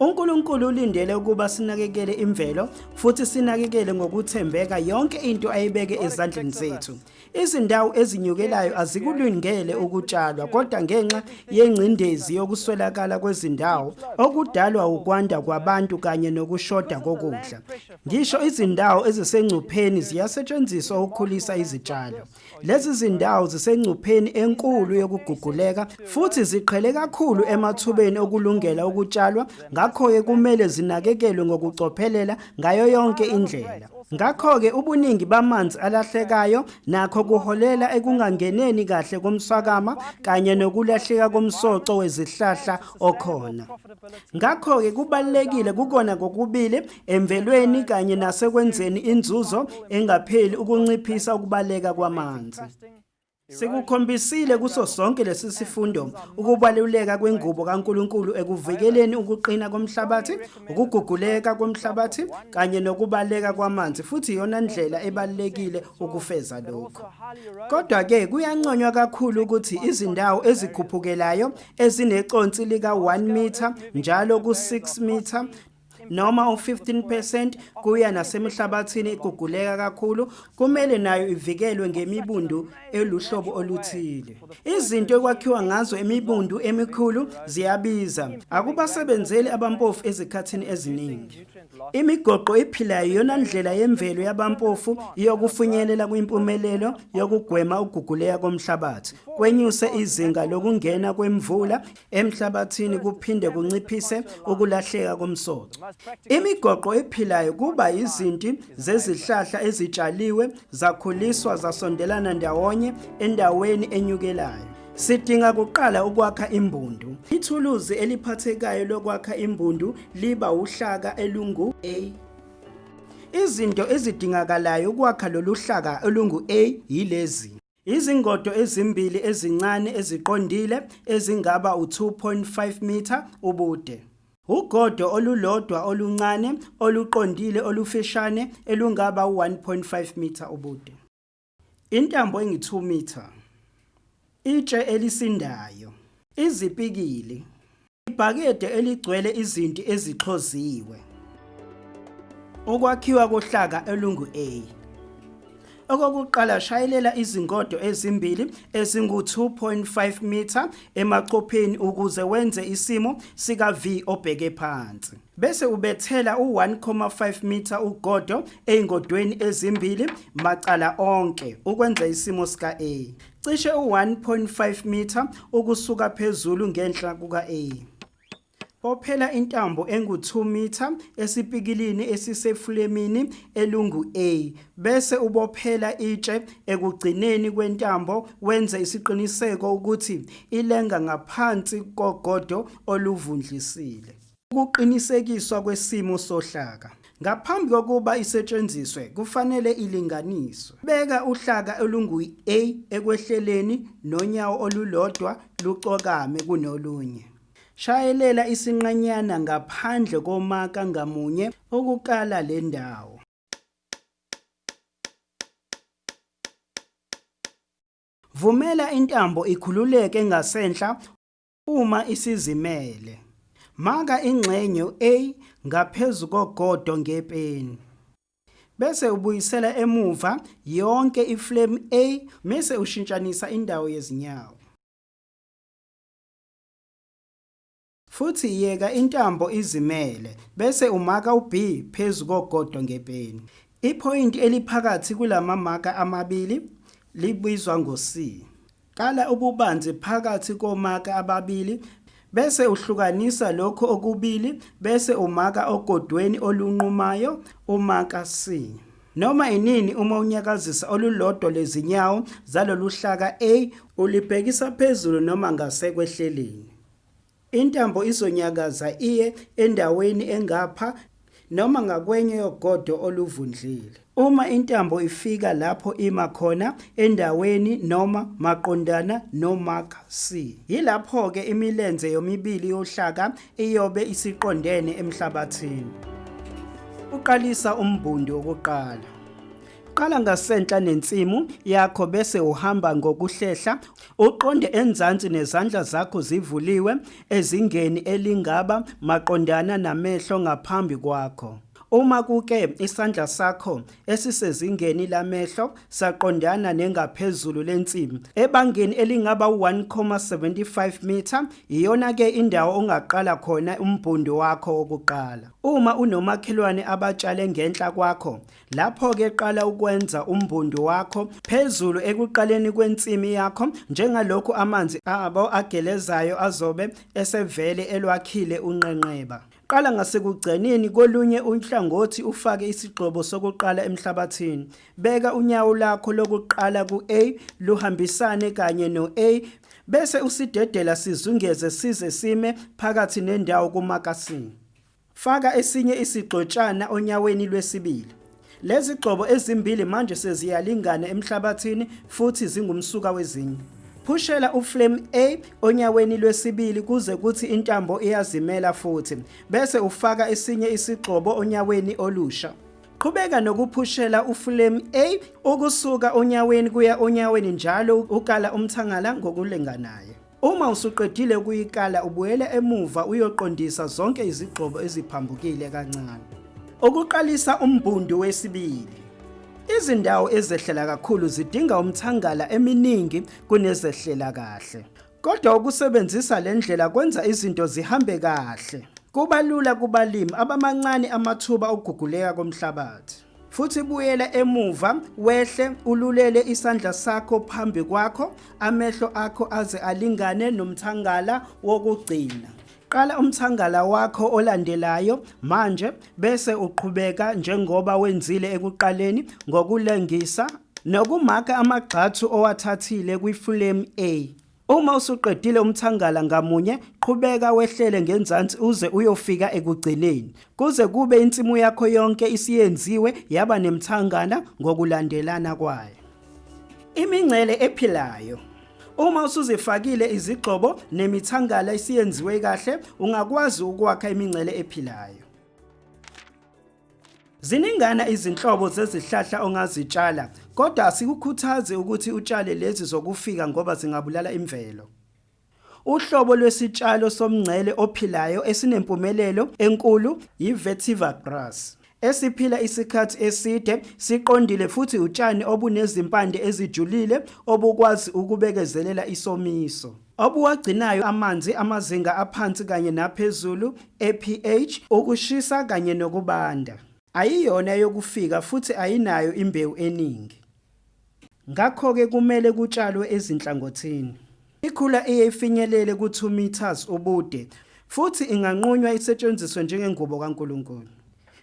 UNkulunkulu ulindele ukuba sinakekele imvelo futhi sinakekele ngokuthembeka yonke into ayibeke ezandleni zethu. Izindawo ezinyukelayo azikulungele ukutshalwa kodwa ngenxa yengcindezi yokuswelakala kwezindawo okudalwa ukwanda kwabantu kanye nokushoda kokudla. Ngisho izindawo ezisengcupheni ziyasetshenziswa ukukhulisa izitshalo. Lezi zindawo zisengcupheni enkulu yokuguguleka futhi ziqhele kakhulu emathubeni okulungela ukutshalwa, ngakho-ke kumele zinakekelwe ngokucophelela ngayo yonke indlela. Ngakho-ke ubuningi bamanzi alahlekayo nakho kuholela ekungangeneni kahle komswakama kanye nokulahleka komsoco wezihlahla okhona. Ngakho-ke kubalulekile kukona kokubili emvelweni kanye nasekwenzeni inzuzo engapheli ukunciphisa ukubaleka kwamanzi. Sikukhombisile kuso sonke lesi sifundo ukubaluleka kwengubo kaNkuluNkulu ekuvikeleni ukuqina komhlabathi, ukuguguleka komhlabathi kanye nokubaleka kwamanzi futhi iyona ndlela ebalekile ukufeza lokho. Kodwa ke kuyanconywa kakhulu ukuthi izindawo ezikhuphukelayo ezineconsi lika 1 meter njalo ku 6 meter noma u-15 percent kuya nasemihlabathini iguguleka kakhulu kumele nayo ivikelwe ngemibundu eluhlobo oluthile izinto ekwakhiwa ngazo imibundu emikhulu ziyabiza akubasebenzeli abampofu ezikhathini eziningi imigoqo iphilayo iyona ndlela yemvelo yabampofu yokufinyelela kwimpumelelo yokugwema ukuguguleka komhlabathi kwenyuse izinga lokungena kwemvula emhlabathini kuphinde kunciphise ukulahleka komsoco. Imigoqo ephilayo kuba izinti zezihlahla ezitshaliwe zakhuliswa zasondelana ndawonye endaweni enyukelayo. Sidinga kuqala ukwakha imbundu. Ithuluzi eliphathekayo lokwakha imbundu liba uhlaka elungu A. Izinto ezidingakalayo ukwakha lolu hlaka olungu A yilezi. Izingodo ezimbili ezincane eziqondile ezingaba u-2.5 mitha ubude. Ugodo olulodwa oluncane oluqondile olufishane elungaba u-1.5 mitha ubude. Intambo engi-2 mitha. Itshe elisindayo. Izipikili. Ibhakede eligcwele izinti ezixhoziwe. Ukwakhiwa kohlaka olungu-A. Okokuqala shayelela izingodo ezimbili ezingu-2.5 mitha emacopheni ukuze wenze isimo sika-V obheke phansi. Bese ubethela u-1.5 mitha ugodo ezingodweni ezimbili macala onke ukwenza isimo sika-A. cishe u-1.5 mitha ukusuka phezulu ngenhla kuka-A. Bophela intambo engu-2 mitha esipikilini esisefulemini elungu-A bese ubophela itshe ekugcineni kwentambo wenze isiqiniseko ukuthi ilenga ngaphansi kogodo oluvundlisile. Ukuqinisekiswa kwesimo sohlaka. Ngaphambi kokuba isetshenziswe kufanele ilinganiswe. Beka uhlaka olungu-A ekwehleleni nonyawo olulodwa lucokame kunolunye. Shayelela isinqanyana ngaphandle komaka ngamunye ukukala le ndawo. Vumela intambo ikhululeke ngasenhla Uma isizimele, maka ingxenye u-A ngaphezu kogodo ngepeni. Bese ubuyisela emuva yonke iflemu A mese ushintshanisa indawo yezinyawo. Futhi yeka intambo izimele bese umaka u-B phezu kogodo ngepeni. Iphoyinti eliphakathi kulamamaka amabili libizwa ngo-C. Qala ububanzi phakathi komaka ababili bese uhlukanisa lokho okubili bese umaka ogodweni olunqumayo umaka C. Noma inini uma unyakazisa olulodwa lezinyawo zaloluhlaka A ulibhekisa phezulu noma ngasekwehleleni. Intambo izonyakaza iye endaweni engapha noma ngakwenye yogodo oluvundlile. Uma intambo ifika lapho ima khona endaweni noma maqondana no-mark C, yilapho-ke imilenze yomibili yohlaka iyobe isiqondene emhlabathini. Uqalisa umbhundi wokuqala. Qala ngasenhla nensimu yakho bese uhamba ngokuhlehla Uqonde enzansi nezandla zakho zivuliwe ezingeni elingaba maqondana namehlo ngaphambi kwakho. Uma kuke isandla sakho esisezingeni lamehlo saqondana nengaphezulu lensimu ebangeni elingaba 1.75 meter, iyona ke indawo ongaqala khona umbhundi wakho wokuqala. Uma unomakhelwane abatshale ngenhla kwakho, Lapho-ke qala ukwenza umbundu wakho phezulu ekuqaleni kwensimi yakho njengalokhu amanzi abo agelezayo azobe esevele elwakhile unqenqeba. Qala ngasekugcineni kolunye uhlangothi ufake isigxobo sokuqala emhlabathini. Beka unyawo lakho lokuqala ku-A luhambisane kanye no-A bese usidedela sizungeze size sime phakathi nendawo kumakasini. Faka esinye isigxotshana onyaweni lwesibili. Lezigxobo ezimbili manje seziyalingana emhlabathini futhi zingumsuka wezinye. Phushela uflame A onyaweni lwesibili kuze kuthi intambo iyazimela futhi bese ufaka esinye isigxobo onyaweni olusha. Qhubeka nokuphushela uflame A ukusuka onyaweni kuya onyaweni njalo ukala umthangala ngokulinganayo. Uma usuqedile ukuyikala ubuyela emuva uyoqondisa zonke izigxobo eziphambukile kancane. Ukuqalisa umbundu wesibili. Izindawo ezehlela kakhulu zidinga umthangala eminingi kunezehlela kahle. Kodwa ukusebenzisa le ndlela kwenza izinto zihambe kahle. Kubalula kubalimi abamancane amathuba okuguguleka komhlabathi. futhi buyela emuva wehle ululele isandla sakho phambi kwakho amehlo akho aze alingane nomthangala wokugcina qala umthangala wakho olandelayo manje bese uqhubeka njengoba wenzile ekuqaleni ngokulengisa nokumaka amagxathu owathathile kwifulemu A Uma usuqedile umthangala ngamunye, qhubeka wehlele ngenzansi uze uyofika ekugcineni. Kuze kube insimu yakho yonke isiyenziwe yaba nemthangala ngokulandelana kwayo. Imingcele ephilayo Uma usuzifakile izigxobo nemithangala isiyenziwe kahle, ungakwazi ukwakha imingcele ephilayo. Ziningana izinhlobo zezihlahla ongazitshala, kodwa asikukhuthazi ukuthi utshale lezi zokufika ngoba zingabulala imvelo. Uhlobo lwesitshalo somngcele ophilayo esinempumelelo enkulu yi-vetiver grass, esiphila isikhathi eside, siqondile futhi utshani obunezimpande ezijulile obukwazi ukubekezelela isomiso. obuwagcinayo amanzi amazinga aphansi kanye naphezulu ePH, ukushisa kanye nokubanda. Ayiyona eyokufika futhi ayinayo imbewu eningi. Ngakho-ke kumele kutshalwe ezinhlangothini. Ikhula iye ifinyelele ku-2 metres ubude futhi inganqunywa isetshenziswe njengengubo kaNkulunkulu.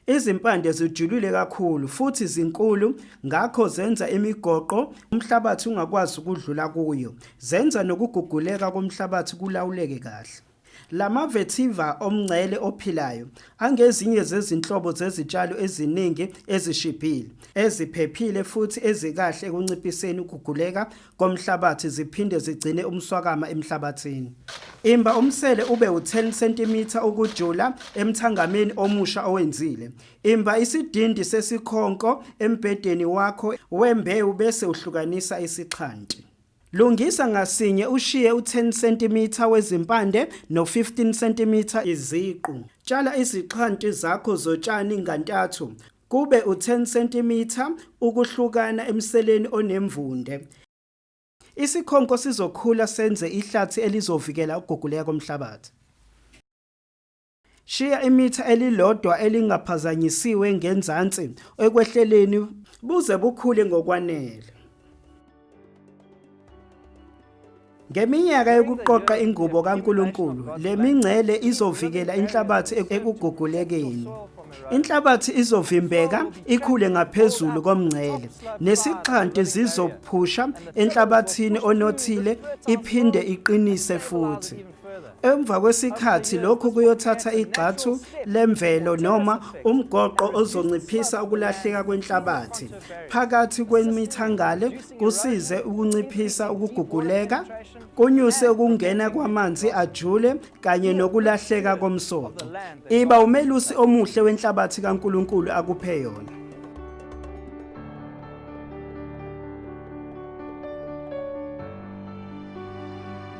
Izimpande zijulile kakhulu futhi zinkulu ngakho zenza imigoqo umhlabathi ungakwazi ukudlula kuyo. Zenza nokuguguleka komhlabathi kulawuleke kahle. La ma-vetiver omngcele ophilayo angezinye zezinhlobo zezitshalo eziningi ezishibhile, eziphephile futhi ezikahle ekunciphiseni ukuguguleka komhlabathi ziphinde zigcine umswakama emhlabathini. Imba umsele ube u10 cm ukujula emthangameni omusha owenzile. Imba isidindi sesikhonko embhedeni wakho wembewu bese uhlukanisa isixhanti. Lungisa ngasinye ushiye u10 cm wezimpande no15 cm iziqu. Tshala izixhanti zakho zotshani ngantathu Kube u-10 cm ukuhlukana emseleni onemvunde. Isikhonko sizokhula senze ihlathi elizovikela ukuguguleka komhlabathi. Shiya imitha elilodwa elingaphazanyisiwe ngenzansi ekwehleleni buze bukhule ngokwanele. Ngeminyaka yokuqoqa ingubo kaNkulunkulu, le mingcele izovikela inhlabathi ekugugulekeni. Inhlabathi izovimbeka ikhule ngaphezulu komngcele, nesixhanti zizophusha enhlabathini onothile iphinde iqinise futhi. Emva kwesikhathi lokhu kuyothatha igxathu lemvelo noma umgoqo ozonciphisa ukulahleka kwenhlabathi phakathi kwemithangale kusize ukunciphisa ukuguguleka kunyuse ukungena kwamanzi ajule kanye nokulahleka komsoco iba umelusi omuhle wenhlabathi kaNkuluNkulu akuphe yona